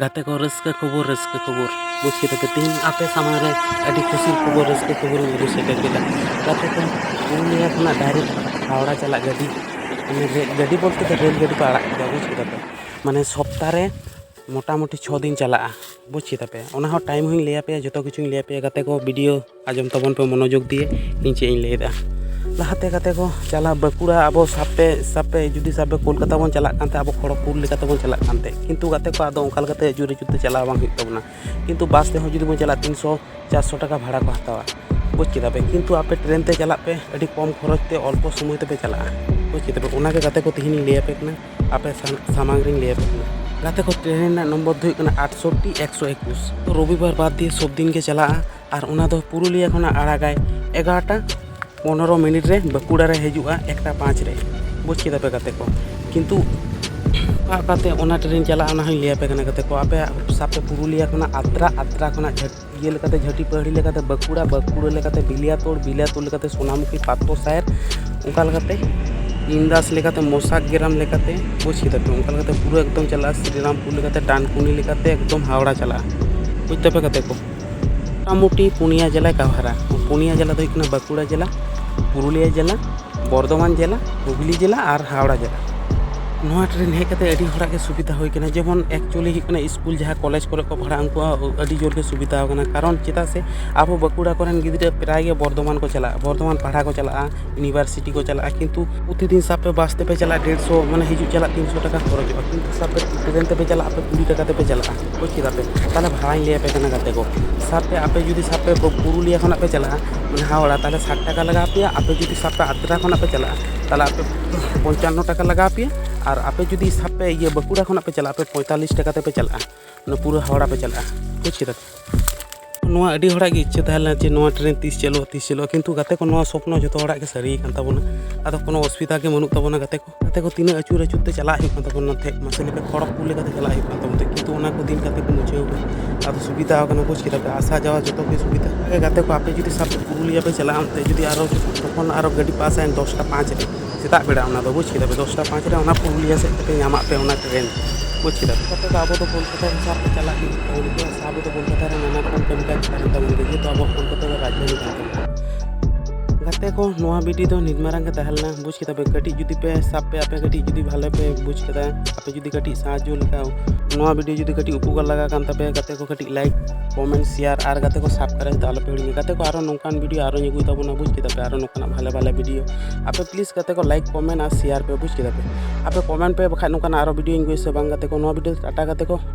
ᱜᱟᱛᱮ ᱠᱚ ᱨᱟᱹᱥᱠᱟᱹ ᱠᱷᱚᱵᱚᱨ ᱨᱟᱹᱥᱠᱟᱹ ᱠᱷᱚᱵᱚᱨ ᱵᱩᱡᱽ ᱠᱮᱫᱟ ᱯᱮ ᱛᱮᱦᱮᱧ ᱟᱯᱮ ᱥᱟᱢᱟᱝ ᱨᱮ ᱟᱹᱰᱤ ᱠᱩᱥᱤ ᱠᱷᱚᱵᱚᱨ ᱨᱟᱹᱥᱠᱟᱹ ᱠᱷᱚᱵᱚᱨ ᱤᱧ ᱟᱹᱜᱩ ᱥᱮᱴᱮᱨ ᱠᱮᱫᱟ ᱜᱟᱛᱮ ᱠᱚ ᱯᱩᱨᱩᱞᱤᱭᱟᱹ ᱠᱷᱚᱱᱟᱜ ᱰᱟᱭᱨᱮᱠᱴ ᱦᱟᱣᱲᱟ ᱪᱟᱞᱟᱜ ᱜᱟᱹᱰᱤ ᱜᱟᱹᱰᱤ ᱵᱚᱞᱛᱮ ᱫᱚ ᱨᱮᱹᱞ ᱜᱟᱹᱰᱤ ᱠᱚ ᱟᱲᱟᱜ ᱠᱮᱫᱟ ᱵᱩᱡᱽ ᱠᱮᱫᱟ ᱯᱮ ᱢᱟᱱᱮ ᱥᱚᱯᱛᱟ ᱨᱮ ᱢᱳᱴᱟᱢᱩᱴᱤ ᱪᱷᱚ ᱫᱤᱱ ᱪᱟᱞᱟᱜᱼᱟ ᱵᱩᱡᱽ ᱠᱮᱫᱟ ᱯᱮ ᱚᱱᱟ ᱦᱚᱸ ᱴᱟᱭᱤᱢ ᱦᱚᱸᱧ ᱞᱟᱹᱭ ᱟᱯᱮᱭᱟ ᱡᱚᱛᱚ ᱠᱤᱪᱷᱩᱧ ᱞᱟᱹᱭ ᱟᱯᱮᱭᱟ ᱜᱟᱛᱮ ᱠᱚ ᱵᱷᱤᱰᱤᱭᱳ ᱟᱸᱡᱚᱢ ᱛᱟᱵᱚᱱ ᱯᱮ ᱢᱚᱱᱚᱡᱳᱜᱽ ᱫᱤᱭᱮ ᱤᱧ ᱪᱮᱫ ᱤᱧ ᱞᱟᱹᱭᱮᱫᱟ ᱞᱟᱦᱟᱛᱮ ᱠᱟᱛᱮ ᱠᱚ ᱪᱟᱞᱟᱣ ᱵᱟᱸᱠᱩᱲᱟ ᱟᱵᱚ ᱥᱟᱵ ᱯᱮ ᱥᱟᱵ ᱯᱮ ᱡᱩᱫᱤ ᱥᱟᱵ ᱯᱮ ᱠᱳᱞᱠᱟᱛᱟ ᱵᱚᱱ ᱪᱟᱞᱟᱜ ᱠᱟᱱ ᱛᱟᱦᱮᱸᱫ ᱟᱵᱚ ᱠᱷᱚᱲᱚᱜᱽᱯᱩᱨ ᱞᱮᱠᱟ ᱛᱮᱵᱚᱱ ᱪᱟᱞᱟᱜ ᱠᱟᱱ ᱛᱟᱦᱮᱸᱫ ᱠᱤᱱᱛᱩ ᱜᱟᱛᱮ ᱠᱚ ᱟᱫᱚ ᱚᱱᱠᱟ ᱞᱮᱠᱟᱛᱮ ᱡᱩᱨᱤ ᱡᱩᱨᱤ ᱛᱮ ᱪᱟᱞᱟᱣ ᱵᱟᱝ ᱦᱩᱭᱩᱜ ᱛᱟᱵᱚᱱᱟ ᱠᱤᱱᱛᱩ ᱵᱟᱥ ᱛᱮᱦᱚᱸ ᱡᱩᱫᱤ ᱵᱚᱱ ᱪᱟᱞᱟᱜᱼᱟ ᱛᱤᱱᱥᱚ ᱪᱟᱨᱥᱚ ᱴᱟᱠᱟ ᱵᱷᱟᱲᱟ ᱠᱚ ᱦᱟᱛᱟᱣᱟ ᱵᱩᱡᱽ ᱠᱮᱫᱟ ᱯᱮ ᱠᱤᱱᱛᱩ ᱟᱯᱮ ᱴᱨᱮᱱ ᱛᱮ ᱪᱟᱞᱟᱜ ᱯᱮ ᱟᱹᱰᱤ ᱠᱚᱢ ᱠᱷᱚᱨᱚᱪ ᱛᱮ ᱚᱞᱯᱚ ᱥᱚᱢᱚᱭ ᱛᱮᱯᱮ ᱪᱟᱞᱟᱜᱼᱟ ᱵᱩᱡᱽ ᱠᱮᱫᱟ ᱯᱮ ᱚᱱᱟᱜᱮ ᱜᱟᱛᱮ ᱠᱚ ᱛᱮᱦᱮᱧ ᱤᱧ ᱞᱟᱹᱭ ᱟᱯᱮ ᱠᱟᱱᱟ ᱟᱯᱮ ᱥᱟᱢᱟᱝ ᱨᱤᱧ ᱞᱟᱹᱭ ᱟᱯᱮ ᱠᱟᱱᱟ ᱜᱟᱛᱮ ᱠᱚ ᱴᱨᱮᱱ ᱨᱮᱱᱟᱜ ᱱᱚᱢᱵᱚᱨ ᱫᱚ ᱦᱩᱭᱩᱜ ᱠᱟᱱᱟ ᱟᱴᱥᱚᱴᱴᱤ ᱮᱠᱥᱚ ᱮᱠᱩᱥ ᱨᱚᱵᱤᱵᱟᱨ ᱵᱟᱫᱽ ᱫᱤᱭᱮ ᱥᱚᱵᱽ ᱫᱤᱱ ᱜᱮ ᱪᱟᱞᱟᱜᱼᱟ ᱟᱨ ᱚᱱᱟ ᱫᱚ ᱯᱩᱨᱩᱞᱤᱭᱟᱹ ᱠᱷᱚᱱᱟᱜ ᱟᱲᱟᱜᱟᱭ ᱮᱜᱟᱨᱚᱴᱟ ᱯᱚᱱᱮᱨᱚ ᱢᱤᱱᱤᱴ ᱨᱮ ᱵᱟᱸᱠᱩᱲᱟ ᱨᱮ ᱦᱤᱡᱩᱜᱼᱟ ᱮᱠᱴᱟ ᱯᱟᱸᱪ ᱨᱮ ᱵᱩᱡᱽ ᱠᱮᱫᱟ ᱯᱮ ᱜᱟᱛᱮ ᱠᱚ ᱠᱤᱱᱛᱩ ᱚᱠᱟ ᱚᱠᱟᱛᱮ ᱚᱱᱟ ᱴᱨᱮᱱ ᱪᱟᱞᱟᱜᱼᱟ ᱚᱱᱟ ᱦᱚᱸᱧ ᱞᱟᱹᱭᱟᱯᱮ ᱠᱟᱱᱟ ᱜᱟᱛᱮ ᱠᱚ ᱟᱯᱮ ᱥᱟᱵ ᱯᱮ ᱯᱩᱨᱩᱞᱤᱭᱟᱹ ᱠᱷᱚᱱᱟᱜ ᱟᱛᱨᱟ ᱟᱛᱨᱟ ᱠᱷᱚᱱᱟᱜ ᱤᱭᱟᱹ ᱞᱮᱠᱟᱛᱮ ᱡᱷᱟᱹᱴᱤ ᱯᱟᱹᱦᱲᱤ ᱞᱮᱠᱟᱛᱮ ᱵᱟᱸᱠᱩᱲᱟ ᱵᱟᱸᱠᱩᱲᱟ ᱞᱮᱠᱟᱛᱮ ᱵᱤᱞᱤᱭᱟᱛᱳᱲ ᱵᱤᱞᱤᱭᱟᱛᱳᱲ ᱞᱮᱠᱟᱛᱮ ᱥᱳᱱᱟᱢᱩᱠᱷᱤ ᱯᱟᱛᱨᱚ ᱥᱟᱦᱮᱵᱽ ᱚᱱᱠᱟ ᱞᱮᱠᱟᱛᱮ ᱤᱱᱫᱟᱥ ᱞᱮᱠᱟᱛᱮ ᱢᱚᱥᱟᱠ ᱜᱨᱟᱢ ᱞᱮᱠᱟᱛᱮ ᱵᱩᱡᱽ ᱠᱮᱫᱟ ᱯᱮ ᱚᱱᱠᱟ ᱞᱮᱠᱟᱛᱮ ᱯᱩᱨᱟᱹ ᱮᱠᱫᱚᱢ ᱪᱟᱞᱟᱜᱼᱟ ᱥᱨᱤᱨᱟᱢᱯᱩᱨ ᱞᱮᱠᱟᱛᱮ ᱰᱟᱱᱠᱩᱱᱤ ᱞᱮᱠᱟᱛᱮ ᱮᱠᱫᱚᱢ ᱦᱟᱣᱲᱟ ᱪᱟᱞᱟᱜᱼᱟ ᱵᱩᱡᱽ ᱫᱟᱯᱮ ᱜᱟᱛᱮ ᱠᱚ ᱢᱳᱴᱟᱢᱩᱴᱤ ᱯᱩᱱᱭᱟ ᱡᱮᱞᱟᱭ ᱠᱟᱵᱷᱟᱨᱟ ᱯᱩᱱᱭᱟ ᱡᱮᱞᱟ ᱫᱚ ᱦᱩᱭᱩᱜ ᱠᱟᱱᱟ ᱵᱟᱸᱠᱩᱲᱟ ᱡᱮᱞᱟ ᱯᱩᱨᱩᱞᱤᱭᱟ ᱡᱮᱞᱟ ᱵᱚᱨᱫᱷᱚᱢᱟᱱ ᱡᱮᱞᱟ ᱦᱩᱜᱽᱞᱤ ᱡᱮᱞᱟ ᱟᱨ ᱦᱟᱣᱲᱟ ᱡᱮᱞᱟ ᱱᱚᱣᱟ ᱴᱨᱮᱱ ᱦᱮᱡ ᱠᱟᱛᱮ ᱟᱹᱰᱤ ᱦᱚᱲᱟᱜ ᱜᱮ ᱥᱩᱵᱤᱫᱷᱟ ᱦᱩᱭ ᱠᱟᱱᱟ ᱡᱮᱢᱚᱱ ᱮᱠᱪᱩᱭᱮᱞᱤ ᱦᱩᱭᱩᱜ ᱠᱟᱱᱟ ᱥᱠᱩᱞ ᱡᱟᱦᱟᱸ ᱠᱚᱞᱮᱡᱽ ᱠᱚᱨᱮ ᱠᱚ ᱯᱟᱲᱦᱟᱜᱼᱟ ᱩᱱᱠᱩᱣᱟᱜ ᱟᱹᱰᱤ ᱡᱳᱨ ᱜᱮ ᱥᱩᱵᱤᱫᱷᱟ ᱠᱟᱱᱟ ᱠᱟᱨᱚᱱ ᱪᱮᱫᱟᱜ ᱥᱮ ᱟᱵᱚ ᱵᱟᱸᱠᱩᱲᱟ ᱠᱚᱨᱮᱱ ᱜᱤᱫᱽᱨᱟᱹ ᱯᱨᱟᱭ ᱜᱮ ᱵᱚᱨᱫᱷᱚᱢᱟᱱ ᱠᱚ ᱪᱟᱞᱟᱜᱼᱟ ᱵᱚᱨᱫᱷᱚᱢᱟᱱ ᱯᱟᱲᱦᱟᱣ ᱠᱚ ᱪᱟᱞᱟᱜᱼᱟ ᱤᱭᱩᱱᱤᱵᱷᱟᱨᱥᱤᱴᱤ ᱠᱚ ᱪᱟᱞᱟᱜᱼᱟ ᱠᱤᱱᱛᱩ ᱯᱨᱚᱛᱤᱫᱤᱱ ᱥᱟᱵ ᱯᱮ ᱵᱟᱥ ᱛᱮᱯᱮ ᱪᱟᱞᱟᱜᱼᱟ ᱰᱮᱲᱥᱚ ᱢᱟᱱᱮ ᱦᱤᱡᱩᱜ ᱪᱟᱞᱟᱜ ᱛᱤᱱᱥᱚ ᱴᱟᱠᱟ ᱠᱷᱚᱨᱚᱪᱚᱜᱼᱟ ᱠᱤᱱᱛᱩ ᱥᱟᱵ ᱯᱮ ᱴᱨᱮᱱ ᱛᱮᱯᱮ ᱪᱟᱞᱟᱜᱼᱟ ᱟᱯᱮ ᱠᱩᱲᱤ ᱴᱟᱠᱟ ᱛᱮᱯᱮ ᱪᱟᱞᱟᱜᱼᱟ ᱵᱩᱡᱽ ᱠᱮᱫᱟ ᱯᱮ ᱛᱟᱦᱚᱞᱮ ᱵᱷᱟᱲᱟᱧ ᱞᱟᱹᱭ ᱟᱯᱮ ᱠᱟᱱᱟ ᱜᱟᱛᱮ ᱠᱚ ᱥᱟᱵ ᱯᱮ ᱟᱯᱮ ᱡᱩᱫᱤ ᱥᱟᱵ ᱯᱮ ᱯᱩᱨᱩᱞᱤᱭᱟᱹ ᱠᱷᱚᱱᱟᱜ ᱯᱮ ᱪᱟᱞᱟᱜᱼᱟ ᱢᱟᱱᱮ ᱦᱟᱣᱲᱟ ᱛᱟᱦᱚᱞᱮ ᱥᱟᱴ ᱴᱟᱠᱟ ᱞᱟᱜᱟᱣ ᱯᱮᱭᱟ ᱟᱯᱮ ᱡᱩᱫᱤ ᱥᱟᱵ ᱯᱮ ᱟᱫᱽᱨᱟ ᱠᱷᱚᱱᱟᱜ ᱯᱮ ᱪᱟᱞᱟᱜᱼᱟ ᱛᱟᱦᱚᱞᱮ ᱟᱯᱮ ᱯᱚᱧᱪᱟᱱᱱᱚ ᱴᱟᱠᱟ ᱞᱟᱜᱟᱣ ᱯᱮᱭᱟ ᱟᱨ ᱟᱯᱮ ᱡᱩᱫᱤ ᱥᱟᱵ ᱯᱮ ᱤᱭᱟᱹ ᱵᱟᱸᱠᱩᱲᱟ ᱠᱷᱚᱱᱟᱜ ᱯᱮ ᱪᱟᱞᱟᱜᱼᱟ ᱟᱯᱮ ᱯᱚᱸᱭᱛᱟᱞᱞᱤᱥ ᱴᱟᱠᱟ ᱛᱮᱯᱮ ᱪᱟᱞᱟᱜᱼᱟ ᱚᱱᱟ ᱯᱩᱨᱟᱹ ᱦᱟᱣᱲᱟ ᱯᱮ ᱪᱟᱞᱟᱜᱼᱟ ᱵᱩᱡᱽ ᱠᱮᱫᱟ ᱯᱮ ᱱᱚᱣᱟ ᱟᱹᱰᱤ ᱦᱚᱲᱟᱜ ᱜᱮ ᱤᱪᱪᱷᱟᱹ ᱛᱟᱦᱮᱸ ᱞᱮᱱᱟ ᱡᱮ ᱱᱚᱣᱟ ᱴᱨᱮᱱ ᱛᱤᱥ ᱪᱟᱹᱞᱩᱜᱼᱟ ᱛᱤᱥ ᱪᱟᱹᱞᱩᱜᱼᱟ ᱠᱤᱱᱛᱩ ᱜᱟᱛᱮ ᱠᱚ ᱱᱚᱣᱟ ᱥᱚᱯᱱᱚ ᱡᱚᱛᱚ ᱦᱚᱲᱟᱜ ᱜᱮ ᱥᱟᱹᱨᱤ ᱠᱟᱱ ᱛᱟᱵᱚᱱᱟ ᱟᱫᱚ ᱠᱳᱱᱳ ᱚᱥᱩᱵᱤᱫᱷᱟ ᱜᱮ ᱵᱟᱹᱱᱩᱜ ᱛᱟᱵᱚᱱᱟ ᱜᱟᱛᱮ ᱠᱚ ᱜᱟᱛᱮ ᱠᱚ ᱛᱤᱱᱟᱹᱜ ᱟᱹᱪᱩᱨ ᱟᱹᱪᱩᱨ ᱛᱮ ᱪᱟᱞᱟᱜ ᱦᱩᱭᱩᱜ ᱠᱟᱱ ᱛᱟᱵᱚᱱᱟ ᱱᱚᱛᱮ ᱢᱟᱥᱮ ᱞᱮᱠᱟ ᱠᱷᱚᱲᱚᱜᱽᱯᱩᱨ ᱞᱮᱠᱟᱛᱮ ᱪᱟᱞᱟᱜ ᱦᱩᱭᱩᱜ ᱠᱟᱱ ᱛᱟᱵᱚᱱᱟ ᱠᱤᱱᱛᱩ ᱚᱱᱟ ᱠᱚ ᱫᱤᱱ ᱜᱟᱛᱮ ᱠᱚ ᱢᱩᱪᱷᱟᱹᱣ ᱠᱟᱱᱟ ᱟᱫᱚ ᱥᱩᱵᱤᱫᱷᱟ ᱠᱟᱱᱟ ᱵᱩᱡᱽ ᱠᱮᱫᱟ ᱯᱮ ᱟᱥᱟ ᱡᱟᱣᱟ ᱡᱚᱛᱚ ᱜᱮ ᱥᱩᱵᱤᱫᱷᱟ ᱚᱱᱟᱜᱮ ᱜᱟᱛᱮ ᱠᱚ ᱟᱯᱮ ᱡᱩᱫᱤ ᱥᱟᱵ ᱯᱩᱨᱩᱞᱤᱭᱟᱹ ᱯᱮ ᱪᱟᱞᱟᱜᱼᱟ ᱚᱱᱛᱮ ᱡᱩᱫᱤ ᱟᱨᱚ ᱛᱚᱠᱷᱚᱱ ᱟᱨᱚ ᱜᱟᱹᱰᱤ ᱯᱟᱥ ᱟᱭ ᱫᱚᱥᱴᱟ ᱯᱟᱸᱪ ᱨᱮ ᱥᱮᱛᱟᱜ ᱵᱮᱲᱟ ᱚᱱᱟ ᱫᱚ ᱵᱩᱡᱽ ᱠᱮᱫᱟ ᱯᱮ ᱫᱚᱥᱴᱟ ᱯᱟᱸᱪ ᱨᱮ ᱚᱱᱟ ᱯᱩᱨᱩᱞᱤᱭᱟᱹ ᱥᱮᱫ ᱛᱮᱯᱮ ᱧᱟᱢᱟᱜ ᱯᱮ ᱚᱱᱟ ᱴᱨᱮᱱ ᱵᱩᱡᱽ ᱠᱮᱫᱟ ᱯᱮ ᱜᱟᱛᱮ ᱠᱚ ᱟᱵᱚ ᱫᱚ ᱠᱳᱞᱠᱟᱛᱟ ᱦᱤᱥᱟᱹᱵ ᱛᱮ ᱪᱟᱞᱟᱜ ᱦᱩᱭᱩᱜ ᱛᱟᱵᱚᱱᱟ ᱟᱵᱚ ᱫᱚ ᱠᱳᱞᱠᱟᱛᱟ ᱨᱮ ᱱᱟᱱᱟ ᱨᱚᱠᱚᱢ ᱠᱟᱹᱢᱤ ᱠᱟᱡᱽ ᱛᱟᱦᱮᱱ ᱛᱟᱵᱚᱱ ᱜᱮᱭᱟ ᱡᱮᱦᱮᱛᱩ ᱟᱵᱚ ᱠᱳᱞᱠᱟᱛᱟ ᱫᱚ ᱨᱟᱡᱽᱫᱷᱟᱱᱤ ᱠᱟᱱ ᱛᱟᱵᱚᱱᱟ ᱜᱟᱛᱮ ᱠᱚ ᱱᱚᱣᱟ ᱵᱷᱤᱰᱤ ᱫᱚ ᱱᱤᱛ ᱢᱟᱨᱟᱝ ᱜᱮ ᱛᱟᱦᱮᱸ ᱞᱮᱱᱟ ᱵᱩᱡᱽ ᱠᱮᱫᱟ ᱯᱮ ᱠᱟᱹᱴᱤᱡ ᱡᱩᱫᱤ ᱯᱮ ᱥᱟᱵ ᱯᱮ ᱟᱯᱮ ᱠᱟᱹᱴᱤᱡ ᱡᱩᱫᱤ ᱵᱷᱟᱞᱮ ᱯᱮ ᱵᱩᱡᱽ ᱠᱮᱫᱟ ᱟᱯᱮ ᱡᱩᱫᱤ ᱠᱟᱹᱴᱤᱡ ᱥᱟᱦᱟᱡᱽᱡᱚ ᱞᱮᱠᱟ ᱱᱚᱣᱟ ᱵᱷᱤᱰᱤᱭᱳ ᱡᱩᱫᱤ ᱠᱟᱹᱴᱤᱡ ᱩᱯᱚᱠᱟᱨ ᱞᱟᱜᱟ ᱠᱟᱱ ᱛᱟᱯᱮ ᱜᱟᱛᱮ ᱠᱚ ᱠᱟᱹᱴᱤᱡ ᱞᱟᱭᱤᱠ ᱠᱚᱢᱮᱱᱴ ᱥᱮᱭᱟᱨ ᱟᱨ ᱜᱟᱛᱮ ᱠᱚ ᱥᱟᱵᱥᱠᱨᱟᱭᱤᱵ ᱫᱚ ᱟᱞᱚᱯᱮ ᱦᱤᱲᱤᱧᱟ ᱜᱟᱛᱮ ᱠᱚ ᱟᱨᱚ ᱱᱚᱝᱠᱟᱱ ᱵᱷᱤᱰᱤᱭᱳ ᱟᱨᱚᱧ ᱟᱹᱜᱩᱭ ᱛᱟᱵᱚᱱᱟ ᱵᱩᱡᱽ ᱠᱮᱫᱟ ᱯᱮ ᱟᱨᱚ ᱱᱚᱝᱠᱟᱱᱟᱜ ᱵᱷᱟᱞᱮ ᱵᱷᱟᱞᱮ ᱵᱷᱤᱰᱤᱭᱳ ᱟᱯᱮ ᱯᱞᱤᱡᱽ ᱜᱟᱛᱮ ᱠᱚ ᱞᱟᱭᱤᱠ ᱠᱚᱢᱮᱱᱴ ᱟᱨ ᱥᱮᱭᱟᱨ ᱯᱮ ᱵᱩᱡᱽ ᱠᱮᱫᱟ ᱯᱮ ᱟᱯᱮ ᱠᱚᱢᱮᱱᱴ ᱯᱮ ᱵᱟᱠᱷᱟᱡ ᱱᱚᱝᱠᱟᱱᱟᱜ ᱟᱨᱚ ᱵᱷᱤᱰᱤᱭᱳᱧ ᱟᱹᱜᱩᱭᱟ ᱥᱮ ᱵᱟᱝ ᱜᱟᱛᱮ ᱠᱚ ᱱᱚᱣᱟ ᱵᱷᱤᱰᱤᱭᱳ ᱴᱟᱴᱟ ᱜᱟᱛᱮ ᱠᱚ